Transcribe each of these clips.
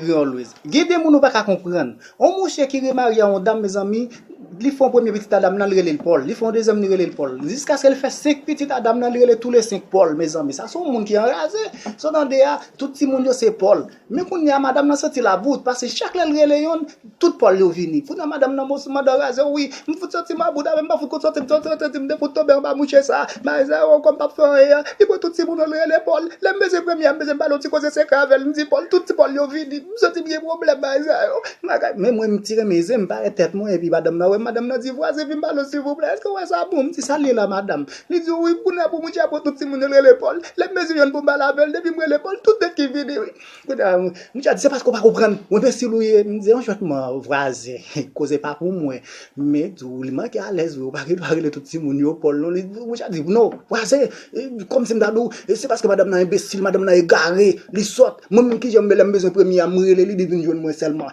You always. Gen de moun ou paka konprann. On mouche ki remarye a on dam mezanmi, li fè on premye pitit a dam nan li rele l Paul, li fè on dezyèm li rele l Paul. Jiskaske li fè 5 pitit a dam nan li rele tou le 5 Paul mezanmi. Sa se on moun ki anraze. Sa w tande a, tout timoun yo se Paul. Men kounye a madam nan santi l about, pase chak lè l rele yonn, Tout pòl yo vini. Kounya madanm nan monstre mandan razew wi. M fout santi m a bouda menm m pa fout konn santim santi santim te fout tonbe anba mouche sa. Maes la oh kòm pap fè anyen an li pran tout ti boulonl rele Paul. Lèm bese premye a m bese m pale yon ti koze sekrè avèl m di Paul tout ti pòl yo vini. M santim gen pwoblèm maes la oh maga. Men mwen m ti renmen zen m pare tèt mwen epi madanm nan wèm madanm nan di vwazen vin pale w silvouplè èskew wè sa bon m di sal ye la madam. Li di wi kounya pou mouche a pran tout ti moun yo l rele Paul. Lèm bese jwenn poum pale avèl depim rele Paul tout det ki vini wi. Kounya m dja di se paske w pa konprann w enbesil w ye m di anchantman vwazen koze pa pou mwen m tou li manke alèz wi w pa gen dwa rele tout timoun yo Pòl non m dja di non vwazen kòmsi m ta di w se paske madanm nan enbesil madanm nan egare li sòt mwen menm kijan m ye lè m bezwen premye a m rele li li vin jwenn mwen sèlman.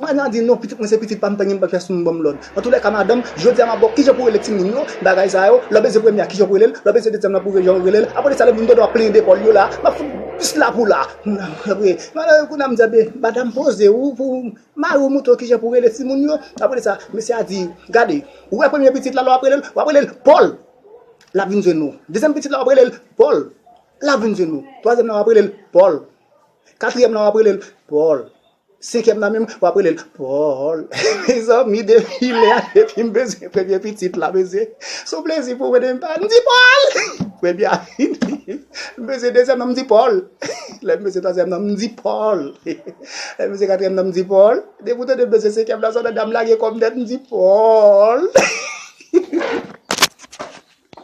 Madan an di, non pitit mwen se pitit pam tanyen m pap fè sou m banm lòd. Antoulèka madanm, jodi a map baw kijan pou rele timoun yo, bagay sa yo, lè w beze premye a kijan pou rele l, lè w beze dezyèm lan pou jan w rele l, aprè sa lè moun tonton ap plenyen depòl yo la, map fout plis la pou la. Aprè, madan an kounye a m di ebyen madam poze w pou mari w montre w kijan pou rele timoun yo, aprè sa mesye a di gade ou wè premye pitit la lè wap rele l, wap rele l Pòl lap vin jwenn ou, dezyèm pitit la wap rele l Pòl lap vin jwenn ou, twazyèm lan wap rele l Pòl, katriyèm lan wap rele l Pòl. Senkyèm nan menm wap relel Paul mezanmi depi lè a depim bezwen premye pitit la mesye son plezi pou mwen depi pale mdi Paul premye a fini m bezwen dezyèm nan mdi Paul lèm bezwen twazyèm nan mdi Paul lèm bezwen katriyèm nan mdi Paul depi ou tande m bezwen senkyèm nan se yon nèg dam lage kòm nèt mdi Paul.